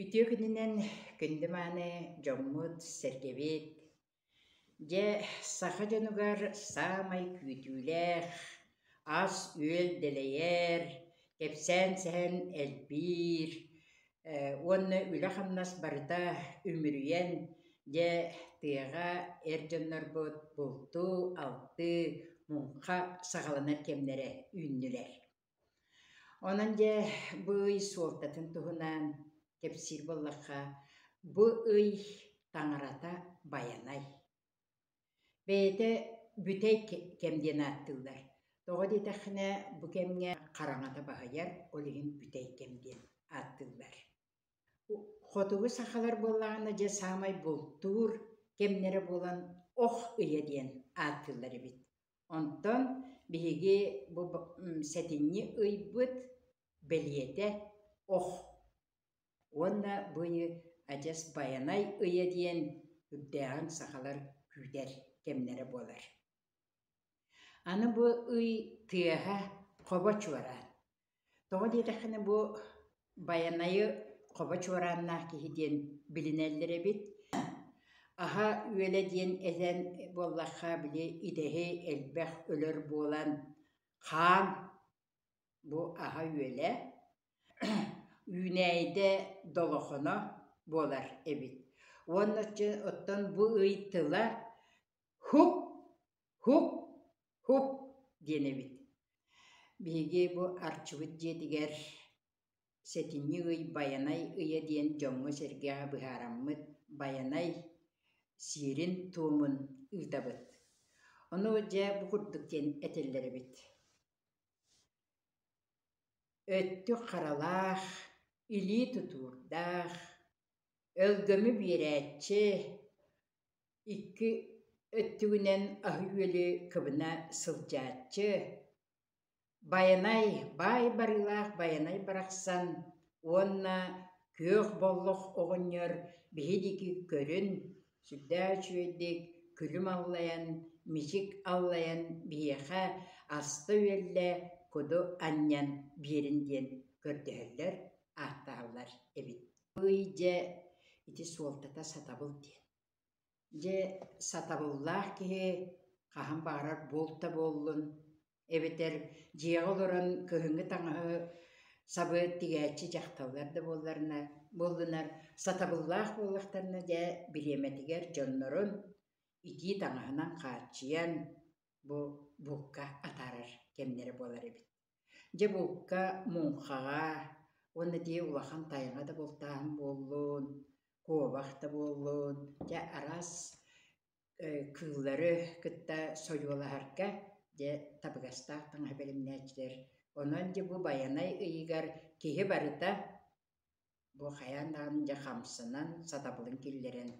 Үтүө күнүнэн күндү мааны дьоммут, сэргэбит! Дьэ, саха дьонугар саамай күүтүүлээх, ас-үөл дэлэйэр, кэпсээн сэһэн элбиир, уонна үлэ-хамнас барыта үмүрүйэн дьэ тыаҕа эр дьоннорбут бултуу, алтыы, муҥха саҕаланар кэмнэрэ үүннүлэр. Онон дьэ бу ый суолтатын туһунан кэпсиир буоллахха, бу ый таҥарата байанай. Бэйэтэ бүтэй кэм диэн ааттыыллар. Тоҕо диэтэххинэ, бу кэмҥэ хараҥата баһыйар, ол иһин бүтэй кэм диэн ааттыыллар. Хотугу сахалар буоллаҕына, дьэ саамай бултуур кэмнэрэ буолан ох ыйа диэн ааттыыллар эбит. Онтон биһиги бу сэтинньи ыйбыт бэлиэтэ ох. Уонна бу ыйы адьас Байанай ыйа диэн үрдээҕин сахалар күүтэр кэмнэрэ буолар. Аны бу ый тыаһа хобо чуораан. Тоҕо диэтэххинэ бу Байанайы хобо чуорааннаах киһи диэн билинэллэр эбит. Аһа үөлэ диэн этэн буоллахха били идэһи элбэх өлөр буолан хаан бу аһа үөлэ. үүнээйидэ долохоно буолар эбит уонна чэ оттон бу ый тыла һук һук һук диэн эбит биһиги бу арчыбыт дьиэтигэр сэтинньи ый байанай ыйа диэн дьоҥҥо-сэргэҕэ быһаараммыт байанай сиэрин-туомун ыытабыт ону дьэ бу курдук диэн этэллэр эбит Өттүк харалаах, илии тутуурдаах, өлгөмү биэрээччи, икки өттүгүнэн аһы-үөлү кыбына сылдьааччы, байанай, баай барыылаах байанай барахсан уонна күөх боллох оҕонньор биһи диэки көрүн, Сүрдээх үчүгэйдик күлүм аллайан, мичик аллайан биһиэхэ аста-үөллэ, куду анньан биэрин диэн көрдөһөллөр, ааттаһаллар эбит. Ый дьэ ити суолтата сатабыл диэн. Дьэ сатабыллаах киһи хаһан баҕарар буолта буоллун эбэтэр дьиэҕэ олорон кыһыҥҥы таҥаһы сабыат тигээччи дьахталлар да буолларына буоллунар сатабыллаах буоллахтарына дьэ бириэмэтигэр дьоннорун итии таҥаһынан хааччыйан бу буукка атаарар кэмнэрэ буолар эбит дьэ буукка муҥхаҕа уонна дии улахан тайаҥа да бултааһын буоллун куобах да буоллун дьэ араас кыыллары кытта сойуолаһарга дьэ табыгастаах таҥаһы бэлэмнээччилэр. Онон дьэ бу байанай ыйыгар киһи барыта бу хайаан даҕаны дьэ хамсанан, сатабылын киллэрэн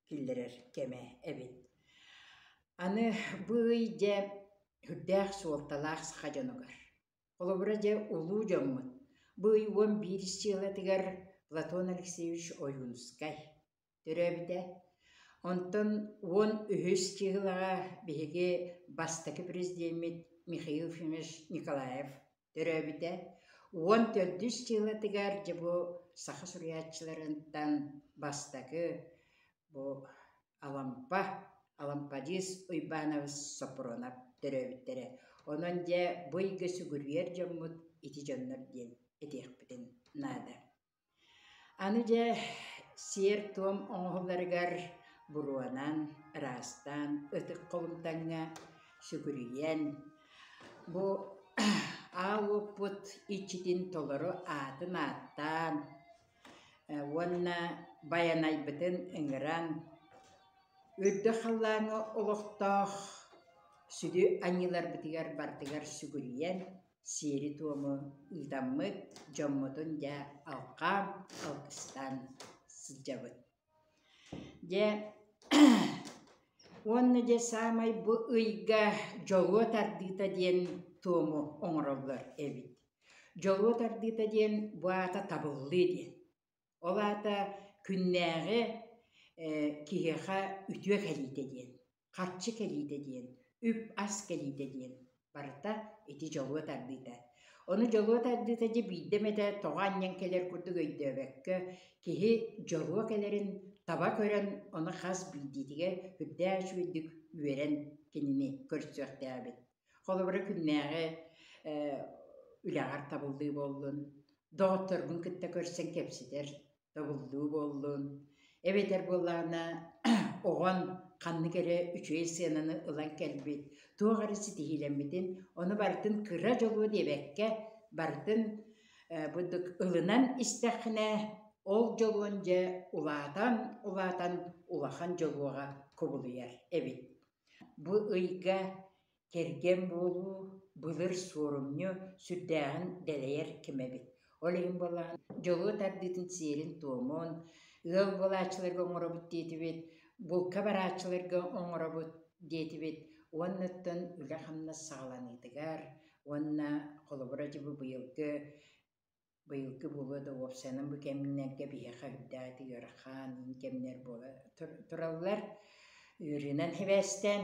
киллэрэр кэмэ эбит. Аны бу ый дьэ үрдээх суолталаах саха дьонугар. Холобура дьэ улуу дьоммут. Бу ый уон биир сиэлэтигэр Платон Алексеевич Ойуунускай төрөөбүтэ. Онтон уон үһүс чыыһылаҕа биһиги бастакы президеммит Михаил Ефимович Николаев төрөөбүтэ. Уон төрдүс чыылатыгар дьэ бу саха суруйааччыларыттан бастакы бу Алампа Алампадис Уйбаанабыс Сопронов төрөөбүттэрэ. Онон дьэ бу ыйга сүгүрүйэр дьоммут ити дьоннор диэн этиэхпитин наада. Аны дьэ сиэр-туом оҥоһулларыгар буруонан, ыраастаан, ытык холумтаҥҥа сүгүрүйэн, бу аал уоппут иччитин толору аатын ааттаан уонна байанайбытын ыҥыран, үрдэ халлааҥҥа олохтоох сүдү аньыыларбытыгар барытыгар сүгүрүйэн сиэри-туому ыытаммыт дьоммутун дьэ алҕаан алгыстаан сылдьабыт дьэ уонна дьэ саамай бу ыйга дьолуо тардыыта диэн туому оҥороллор эбит дьолуо тардыыта диэн бу аата табыллыы диэн ол аата күннээҕи киһиэхэ үтүө кэлиитэ диэн харчы кэлиитэ диэн, үп-ас кэлиитэ диэн барыта ити дьолуо тардыыта. Ону дьолуо тардыыта дьэ биирдэ эмэтэ тоҕо анньан кэлэр курдук өйдөөбөккө, киһи дьолуо кэлэрин таба көрөн, ону хас биирдиитигэр үрдээч үөдүк үөрэн кинини көрсүөхтээбит. Холобура күннээҕи үлэҕэр табыллыы буоллун, доҕотторгун кытта көрсөн кэпсэтэр, Тобуллуу буоллун. Эбэтэр буоллаҕына оҕон ханнык эрэ үчүгэй сыананы ылан кэлбит, туох эрэ ситиһиилэммитин, ону барытын кыра дьолуо диэбэккэ, барытын быдык ылынан истэххинэ, ол дьолуон дьэ улаатан, улаатан улахан дьолуоҕа кубулуйар эбит. Бу ыйга Кэргэн буолуу былыр суорумньу сүрдээҕин дэлэйэр ким эбит. Ол иһин буолан дьолуо тардыытын сиэрин-туомун, ыал буолааччыларга оҥоробут диэтибит, булка барааччыларга оҥоробут диэтибит уоннаттан үлэ-хамнас саҕаланыытыгар уонна холобура дьыбы быйылгы быйылгы буолуо да уопсанан бу кэмнэргэ биһиэхэ үрдээтэ ыарахан иин кэмнэр буола тураллар ыарыынан сибээстээн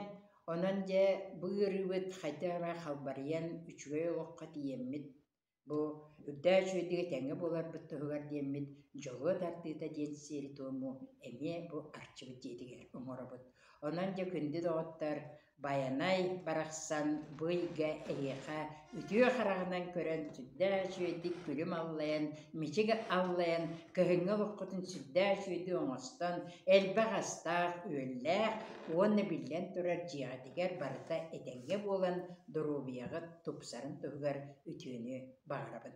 онон дьэ бу ыарыыбыт хайда эрэ халбарыйан үчүгэй олоххо тиийэммит бу үрдээ үчүгэйдик этэҥҥэ буоларбыт туһугар диэммит дьолуо тардыыта диэн сиэри-туому эмиэ бу арчыбыт дьиэтигэр оҥоробут онон дьэ күндү доҕоттор Байанай барахсан бу ыйга эһиэхэ үтүө хараҕынан көрөн сүрдээх үчүгэйдик күлүм аллайан, мичик аллайан, көһүҥҥэ олоххутун сүрдээх үчүгэйдик оҥостон, элбэх астаах, үөллээх уонна биллэн турар дьиэҕитигэр барыта этэҥҥэ буолан доруобуйаҕыт тупсарын туһугар үтүөнү баҕарабын.